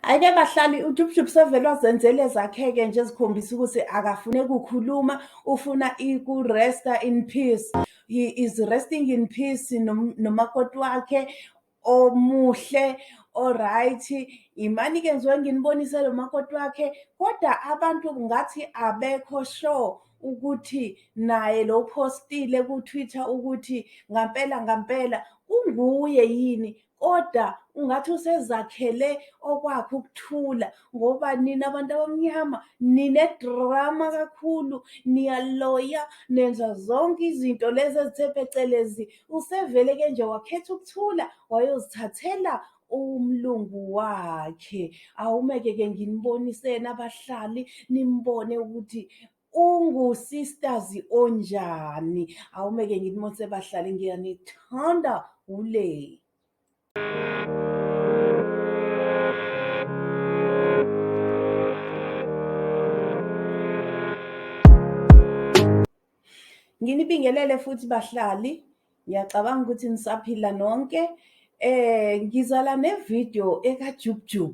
Ayike bahlali uJubujub sevele wazenzela ezakheke nje ezikhombisa ukuthi akafune kukhuluma ufuna ikuresta in peace he is resting in peace nomakoti wakhe omuhle oright imani ke ngizoke nginibonise lo makoti wakhe kodwa abantu ngathi abekho sure ukuthi naye lo postile ku-Twitter ukuthi ngampela ngampela kunguye yini kodwa ungathi usezakhele okwakhe ukuthula ngoba nina abantu abamnyama ninedrama kakhulu niyaloya nenza zonke izinto lezi ezithe phecelezi usevele ke nje wakhetha ukuthula wayozithathela umlungu wakhe awumeke ke nginibonise nabahlali nimbone ukuthi ungusistazi onjani awumeke ngithi mose bahlale ngiyanithanda ule nginibingelele futhi bahlali ngiyacabanga ukuthi nisaphila nonke eh ngizala nevideo ekajubjub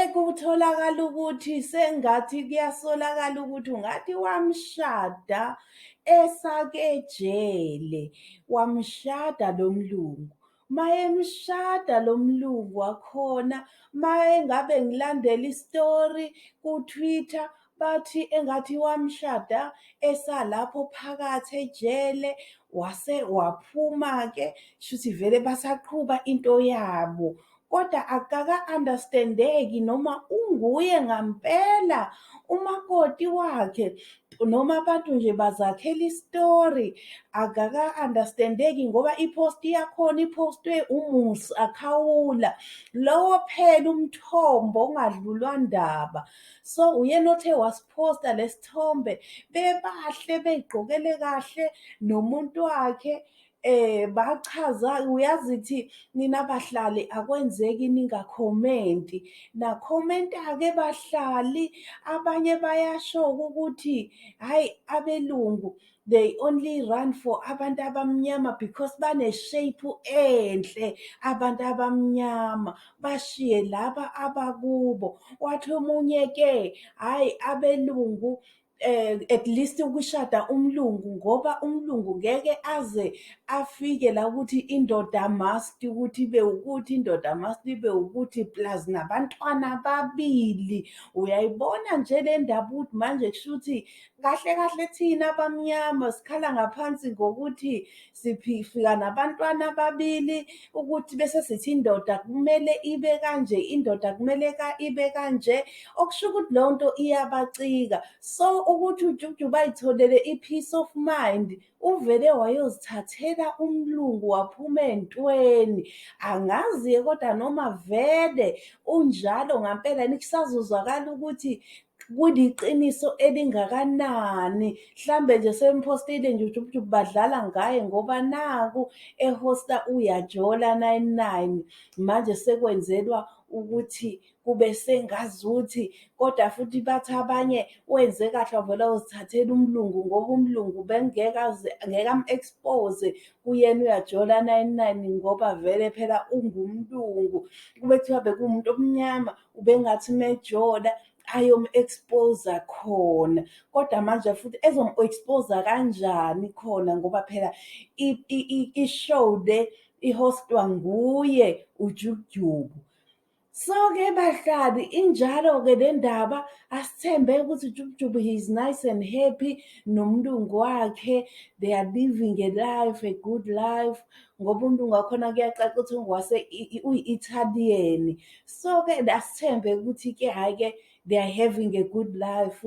ekutholakala ukuthi sengathi kuyasolakala ukuthi ungathi wamshada esakejele wamshada lo mlungu mayemshada lo mlungu wakhona mayengabe ngilandela isitori ku-twitter bathi engathi wamshada esalapho phakathi ejele wase waphuma-ke shuthi vele basaqhuba into yabo kodwa akaka-understandeki noma unguye ngampela umakoti wakhe noma abantu nje bazakhela isitori akaka-understandeki ngoba iphosti yakhona iphostwe umusa khawula lowo phela umthombo ongadlulwa ndaba so uyena othe wasiphosta lesithombe bebahle beyigqokele kahle nomuntu wakhe eh bachaza uyazi ukuthi nina bahlali akwenzeki ningakhomenti nakhomenta ke bahlali abanye bayasho ukuthi hayi abelungu they only run for abantu abamnyama because baneshape enhle abantu abamnyama bashiye laba abakubo wathi omunye ke hayi abelungu eh at least ukushada umlungu ngoba umlungu ngeke aze afike la ukuthi indoda must ukuthi be ukuthi indoda must be ukuthi plus nabantwana babili uyayibona nje le ndaba ukuthi manje kushuthi kahle kahle thina abamnyama sikhala ngaphansi ngokuthi siphifika nabantwana ababili ukuthi bese sithi indoda kumele ibe kanje indoda kumele ka ibe kanje okusho ukuthi leyo nto iyabacika so ukuthi ujuju bayitholele i-peace of mind uvele wayozithathela umlungu waphuma entweni angazi-ke kodwa noma vele unjalo ngampela nikusazozwakala ukuthi kuliqiniso elingakanani mhlambe nje semphostile nje ujubujubu badlala ngaye ngoba naku ehosta uyajola 99 manje sekwenzelwa ukuthi kube sengazuthi kodwa futhi bathi abanye wenze kahle wavela uzithathela umlungu ngoba umlungu bengeke ngeke am-expose kuyena uyajola 99 ngoba vele phela ungumlungu kube kuthiwa bekuwumuntu omnyama ubengathi mejola ayom-expose khona kodwa manje futhi ezom-expose kanjani khona ngoba phela i-show le ihostwa nguye ujujubu so-ke bahlali injalo-ke le ndaba asithembe ukuthi jubujubu he is nice and happy nomlungu wakhe they are living a life a good life ngoba umlungu wakhona kuyacaca ukuthi ngwase uyi-italian so-ke asithembe ukuthi-ke hhayi-ke they are having a good life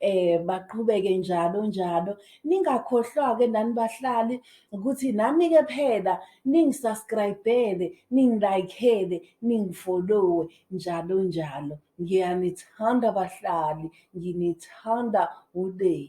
eh baqhubeke njalo njalo ningakhohlwa-ke nani bahlali ukuthi nami-ke phela ningisubscribele ningilayikhele ningifollowe njalo njalo ngiyanithanda bahlali nginithanda uday